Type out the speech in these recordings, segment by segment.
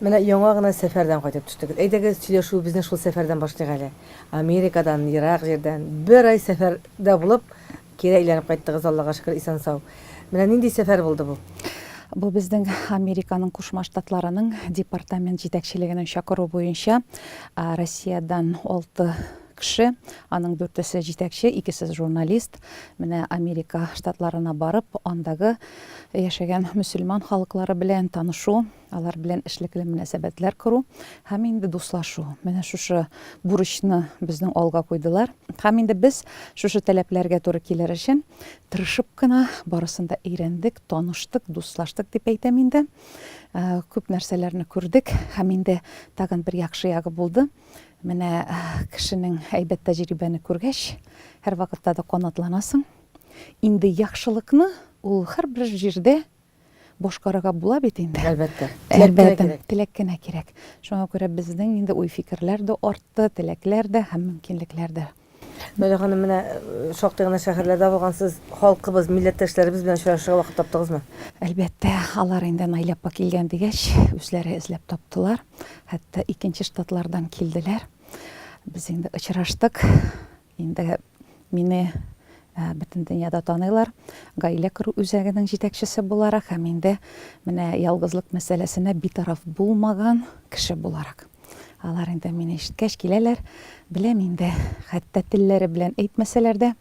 Менә яңа гына сәфәрдән кайтып төштегез. Әйдәгез, сөйләшүебезне шул сәфәрдән башлыйк әле. Америкадан, ерак җирдән, бер ай сәфәрдә булып, кире әйләнеп кайттыгыз, Аллага шөкер, исән-сау. Менә нинди сәфәр булды бу? Бу безнең Американың Кушма Штатларының департамент җитәкчелегенең чакыруы буенча Россиядән алты кеше, аның дүртесе җитәкче, икесе журналист, менә Америка Штатларына барып, андагы яшәгән мөселман халыклары белән танышу, алар белән эшлекле мөнәсәбәтләр кору һәм инде дуслашу. Менә шушы бурычны безнең алга куйдылар. Һәм инде без шушы таләпләргә туры килер өчен тырышып кына барысын да өйрәндек, таныштык, дуслаштык дип әйтәм инде. Э, күп нәрсәләрне күрдек һәм инде тагын бер яхшы ягы булды. Менә э, кешенең әйбәт тәҗрибәне күргәч, һәрвакытта да канатланасың. Инде яхшылыкны ул һәрбер җирдә башкарырга була бит инде. Әлбәттә. Әлбәттә, теләк кенә кирәк. Шуңа күрә безнең инде уй-фикерләр дә артты, теләкләр дә һәм мөмкинлекләр дә. Мәлия ханым, менә э, шактый гына шәһәрләрдә булгансыз, халкыбыз, милләттәшләребез белән очрашырга вакыт таптыгызмы? Әлбәттә, алар инде Наилә апа килгән дигәч, үзләре эзләп таптылар. Хәтта икенче штатлардан килделәр. Без инде очраштык. Инде мине бөтен дөньяда таныйлар. Гаилә кору үзәгенең җитәкчесе буларак һәм инде менә ялгызлык мәсьәләсенә битараф булмаган кеше буларак. Алар инде мине ишеткәч киләләр. Беләм инде, хәтта телләре белән әйтмәсәләр дә,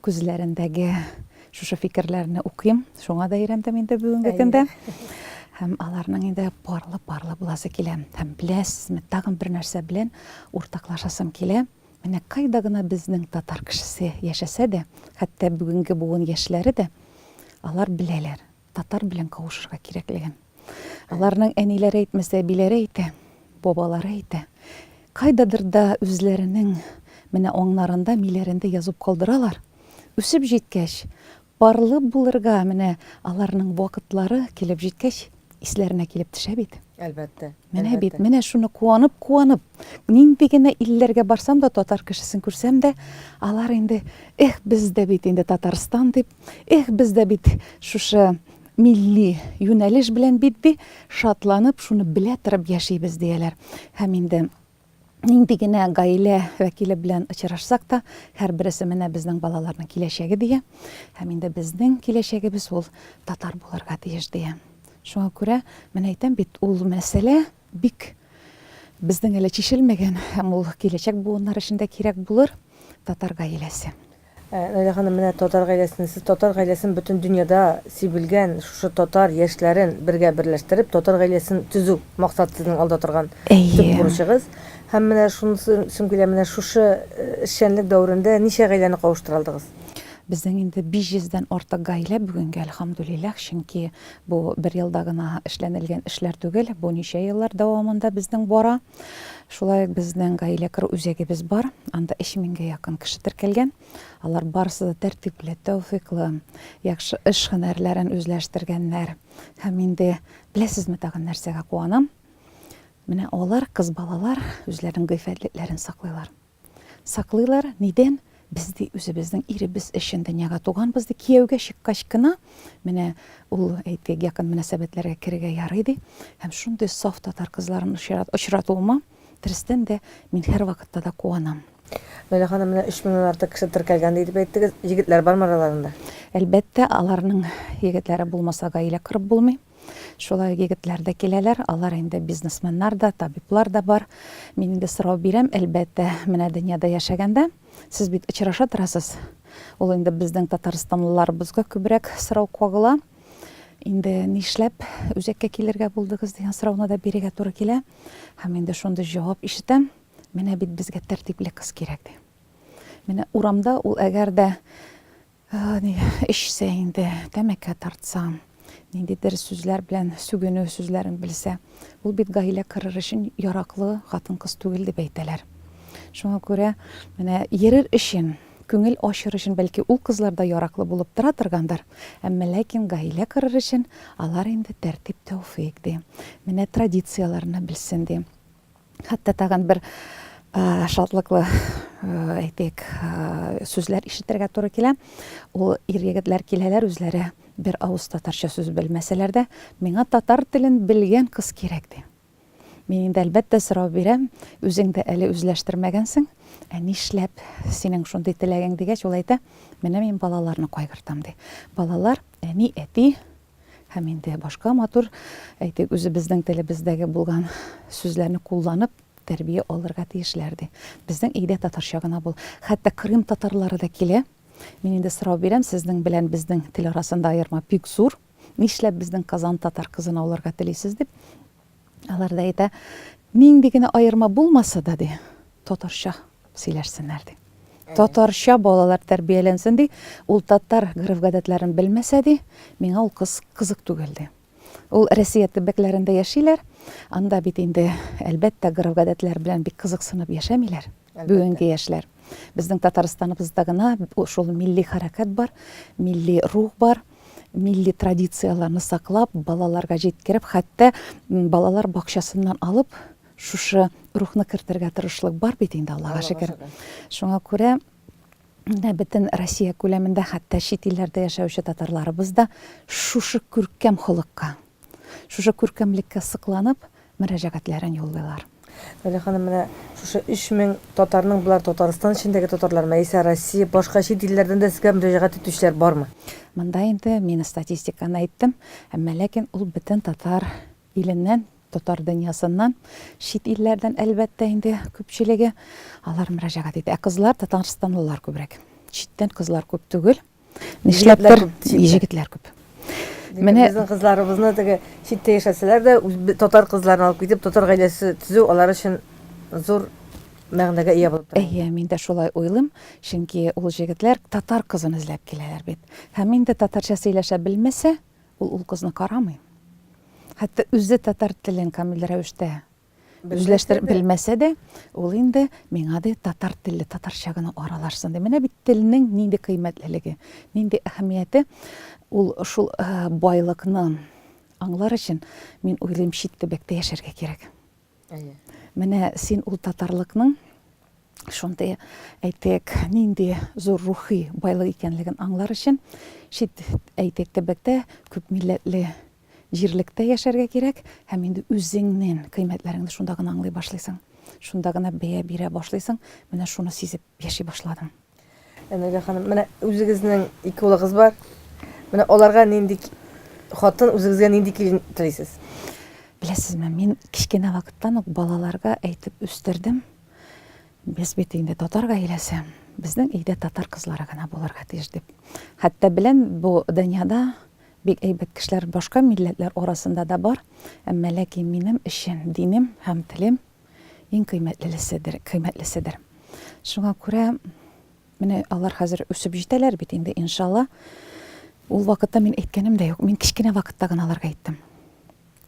күзләрендәге шушы фикерләрне укыйм. Шуңа да өйрәндем инде бүгенге көндә. Һәм аларның инде парлы-парлы буласы килә. Һәм беләсезме, тагын бер нәрсә белән уртаклашасым килә. Менә кайда гына безнең татар кешесе яшәсә дә, хәтта бүгенге буын яшьләре дә, алар беләләр, татар белән кавышырга кирәклеген. Аларның әниләре әйтмәсә, әбиләре әйтә, бабалары әйтә. Кайдадыр да үзләренең менә аңнарында, миләрендә язып калдыралар. Үсеп җиткәч, Парлы булырга менә аларның вакытлары килеп җиткәч, исләренә килеп төшә бит. Әлбәттә. Менә бит, менә шуны куанып-куанып, нинди генә илләргә барсам да, татар кешесен күрсәм дә, алар инде, эх, без дә бит инде Татарстан дип, эх, без дә бит шушы милли юнәлеш белән бит, ди, шатланып, шуны белә торып яшибез, дияләр. Һәм инде нинди генә гаилә вәкиле белән очрашсак та, һәрбересе менә безнең балаларның киләчәге дия. Һәм инде безнең киләчәгебез ул татар булырга тиеш дия. Шуңа күрә, менә әйтәм бит, ул мәсьәлә бик безнең әле чишелмәгән һәм ул киләчәк буыннар өчен дә кирәк булыр татар гаиләсе. Наилә ханым, менә татар гаиләсен, сез татар гаиләсен бөтен дөньяда сибелгән шушы татар яшьләрен бергә берләштереп, татар гаиләсен төзү, максат сезнең алда торган төп Әйе. бурычыгыз. Һәм менә шунысы сөм килә, менә шушы эшчәнлек дәверендә ничә гаиләне кавыштыра алдыгыз? Безнең инде 500 дән артык гаилә бүгенгә, әлхәмдүлилләһ, чөнки бу бер елда гына эшләнелгән эшләр түгел, бу ничә еллар дәвамында безнең бара. Шулай ук безнең гаилә керү үзәгебез бар. Анда 3000гә якын кеше теркәлгән. Алар барысы да тәртипле, тәүфыйклы, яхшы эш һөнәрләрен үзләштергәннәр. Һәм инде беләсезме тагын нәрсәгә куанам? Менә алар, кыз балалар, үзләренең гыйффәтлекләрен саклыйлар. Саклыйлар, нидән? Без, ди, үзебезнең иребез өчен дөньяга туганбыз, ди, кияүгә чыккач кына, менә ул, әйтик, якын мөнәсәбәтләргә керергә ярый, ди. Һәм шундый саф татар кызларын очратуыма, дөрестән дә, мин һәрвакытта да куанам. Наилә ханым, менә өч меңнән артык кеше теркәлгән, ди, дип әйттегез. Егетләр бармы араларында? Әлбәттә, аларның егетләре булмаса, гаилә корып булмый. Шулай ук егетләр дә киләләр, алар инде бизнесменнар да, табиблар да бар. Мин инде сорау бирәм, әлбәттә, менә дөньяда яшәгәндә, сез бит очраша торасыз. Ул инде безнең татарстанлыларыбызга күбрәк сорау кагыла. Инде нишләп үзәккә килергә булдыгыз дигән сорауны да бирергә туры килә. Һәм инде шундый җавап ишетәм, менә бит безгә тәртипле кыз кирәк ди. Менә урамда ул әгәр дә Эчсә инде, тәмәке тартса, ниндидер сүзләр белән сүгенү сүзләрен белсә, ул бит гаилә кырыр өчен яраклы хатын-кыз түгел дип әйтәләр. Шуңа күрә менә йөрер өчен, күңел ачыр өчен бәлки ул кызлар да яраклы булып тора торгандыр, әмма ләкин гаилә кырыр өчен алар инде тәртип-тәүфыйк, ди. Менә традицияләрне белсен, ди. Хәтта тагын бер шатлыклы, әйтик, сүзләр ишетергә туры килә. Ул ир-егетләр киләләр, үзләре бер авыз татарча сүз белмәсәләр дә, миңа татар телен белгән кыз кирәк, ди. Мин инде, әлбәттә, сорау бирәм, үзең дә әле үзләштермәгәнсең, ә нишләп синең шундый теләгең, дигәч, ул әйтә, менә мин балаларны кайгыртам, ди. Балалар әни-әти Һәм инде башка матур, әйтик, үзебезнең телебездәге булган сүзләрне кулланып, тәрбия алырга тиешләр, ди. Безнең өйдә татарча гына бул. Хәтта Крым татарлары да килә. Мин инде сорау бирәм, сезнең белән безнең тел арасында аерма бик зур. Нишләп безнең Казан татар кызын ауларга телисез, дип. Алар да әйтә, нинди генә аерма булмаса да, ди, татарча сөйләшсеннәр, ди. Татарча балалар тәрбияләнсен, ди. Ул татар гореф-гадәтләрен белмәсә, ди, миңа ул кыз кызык түгел, ди. Ул Россия төбәкләрендә яшиләр, анда бит инде, әлбәттә, гореф-гадәтләр белән бик кызыксынып яшәмиләр. Бүгенге яшьләр. Безнең Татарстаныбызда гына шул милли хәрәкәт бар, милли рух бар, милли традицияләрне саклап, балаларга җиткереп, хәтта балалар бакчасыннан алып, шушы рухны кертергә тырышлык бар бит инде, Аллага шөкер. Шуңа күрә менә бөтен Россия күләмендә, хәтта чит илләрдә яшәүче татарларыбыз да шушы күркәм холыкка Шушы күркәмлеккә сокланып, мөрәҗәгатьләрен юллыйлар. Галия ханым, менә шушы 3000 татарның, болар Татарстан эчендәге татарлармы, яисә Россия, башка чит илләрдән дә сезгә мөрәҗәгать итүчеләр бармы? Монда инде мин статистиканы әйттем, әмма ләкин ул бөтен татар иленнән, татар дөньясыннан, чит илләрдән, әлбәттә инде, күпчелеге алар мөрәҗәгать итә. Ә кызлар, татарстанлылар күбрәк. Читтән кызлар күп түгел. Нишләптер җегетләр күп. Менә безнең кызларыбызны теге читтә яшәсәләр дә, татар кызларын алып китеп, татар гаиләсе төзү алар өчен зур мәгънәгә ия булып тора. Әйе, мин дә шулай уйлыйм, чөнки ул җегетләр татар кызын эзләп киләләр бит. Һәм инде татарча сөйләшә белмәсә, ул ул кызны карамый. Хәтта үзе татар телен камил рәвештә Үзләштереп белмәсә дә, ул инде миңа ди татар телле татарча гына аралашсын ди. Менә бит телнең нинди кыйммәтлелеге, нинди әһәмияте. Ул шул э, байлыкны аңлар өчен, мин уйлыйм, чит төбәктә яшәргә кирәк. Менә син ул татарлыкның шундый әйтек нинди зур рухи байлык икәнлеген аңлар өчен чит әйтек төбәктә күп милләтле Җирлектә яшәргә кирәк һәм инде үзеңнен кыйммәтләреңне шунда гына аңлый башлыйсың. Шунда гына бәя бирә башлыйсың, менә шуны сизеп яши башладым. Энергия ханым, менә үзегезнең ике улыгыз бар. Менә аларга нинди хатын, үзегезгә нинди килен телисез? Беләсезме, мин кечкенә вакыттан ук балаларга әйтеп үстердем. Без бит инде татар гаиләсе. Безнең өйдә татар кызлары гына булырга тиеш дип. Хәтта белән бу дөньяда Бик әйбәт кешеләр башка милләтләр арасында да бар, әмма ләкин минем өчен динем һәм телем иң кыйммәтлелеседер, кыйммәтлеседер. Шуңа күрә менә алар хәзер үсеп җитәләр бит инде, иншалла. Ул вакытта мин әйткәнем дә юк, мин кечкенә вакытта гына аларга әйттем.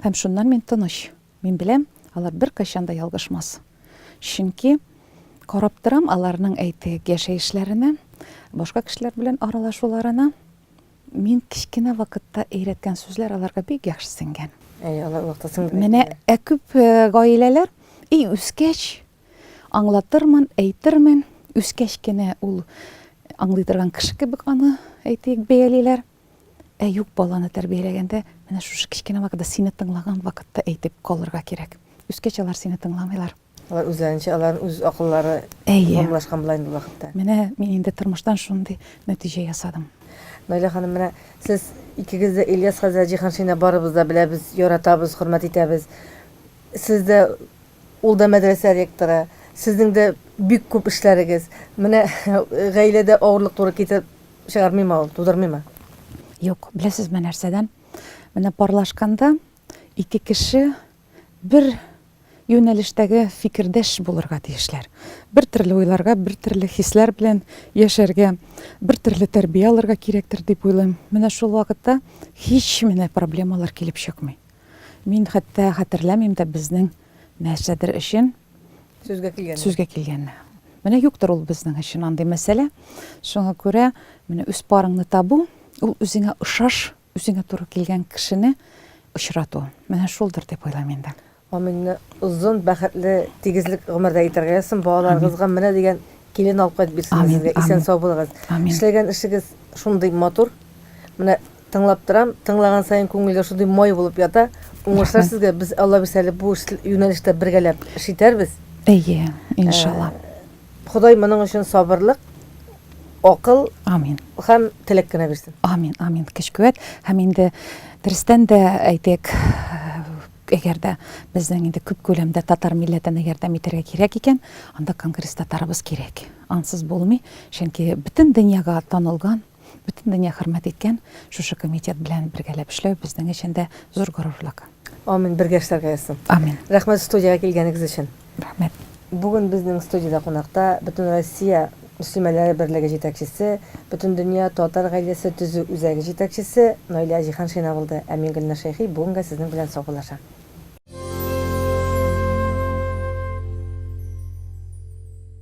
Һәм шуннан мин тыныч. Мин беләм, алар беркайчан да ялгышмас. Чөнки карап торам аларның әйтек яшәешләренә, башка кешеләр белән аралашуларына. Мин кечкенә вакытта өйрәткән сүзләр аларга бик яхшы сеңгән. Әй, алар вакытта сеңгән. Менә ә күп э, гаиләләр, и үскәч аңлатырмын, әйтермен, үскәч кенә ул аңлый торган кеше кебек аны әйтик бәялиләр. Ә юк баланы тәрбияләгәндә менә шушы кечкенә вакытта сине тыңлаган вакытта әйтеп калырга кирәк. Үскәч алар сине тыңламыйлар. Алар үзләренчә, аларның үз акыллары формалашкан була инде ул вакытта. Менә мин инде тормыштан шундый нәтиҗә ясадым. Наилә ханым, менә сез икегез дә Ильяс хәзрәт Җиһаншины барыбыз да беләбез, яратабыз, хөрмәт итәбез. Сез дә, ул да мәдрәсә ректоры. Сезнең дә бик күп эшләрегез. Менә гаиләдә авырлык туры китереп чыгармыймы ул, тудырмыймы? Юк, беләсезме нәрсәдән? Менә парлашканда ике кеше бер юнәлештәге фикердәш булырга тиешләр. Бер төрле уйларга, бер төрле хисләр белән яшәргә, бер төрле тәрбия алырга кирәктер дип уйлыйм. Менә шул вакытта һич менә проблемалар килеп чыкмый. Мин хәтта хәтерләмим дә безнең нәрсәдер өчен сүзгә килгән. Сүзгә килгән. Менә юктыр ул безнең өчен андый мәсьәлә. Шуңа күрә менә үз парыңны табу, ул үзеңә ошаш Үзеңә туры килгән кешене очрату, менә шулдыр дип уйлыйм инде. Амин, озын, бәхетле, тигезлек гомердә итәргә язсын, балаларыгызга менә дигән килен алып кайтып бирсен сезгә, исән сау булыгыз. Эшләгән эшегез шундый матур, менә тыңлап торам, тыңлаган саен күңелгә шундый май булып ята, уңышлар сезгә, без Алла бирсә әле бу юнәлештә бергәләп эш итәрбез. Әйе, иншалла. Ходай моның өчен сабырлык, акыл Амин. һәм теләк кенә бирсен. Амин, амин. Көч-куәт һәм инде дөрестән дә әйтик, әгәр дә безнең инде күп күләмдә татар милләтенә ярдәм итәргә кирәк икән, анда конгресс татарыбыз кирәк. Ансыз булмый, чөнки бөтен дөньяга танылган Бөтен дөнья хөрмәт иткән шушы комитет белән бергәләп эшләү безнең өчен дә зур горурлык. Амин, бергә эшләргә язсын. Амин. Рәхмәт студиягә килгәнегез өчен. Рәхмәт. Бүген безнең студиядә кунакта Бөтенроссия мөслимәләре берлеге җитәкчесе, Бөтендөнья татар гаиләсе төзү үзәге җитәкчесе Наилә Җиһаншина булды, ә мин Гөлнар Шәйхи бүгенгә сезнең белән саубуллашам.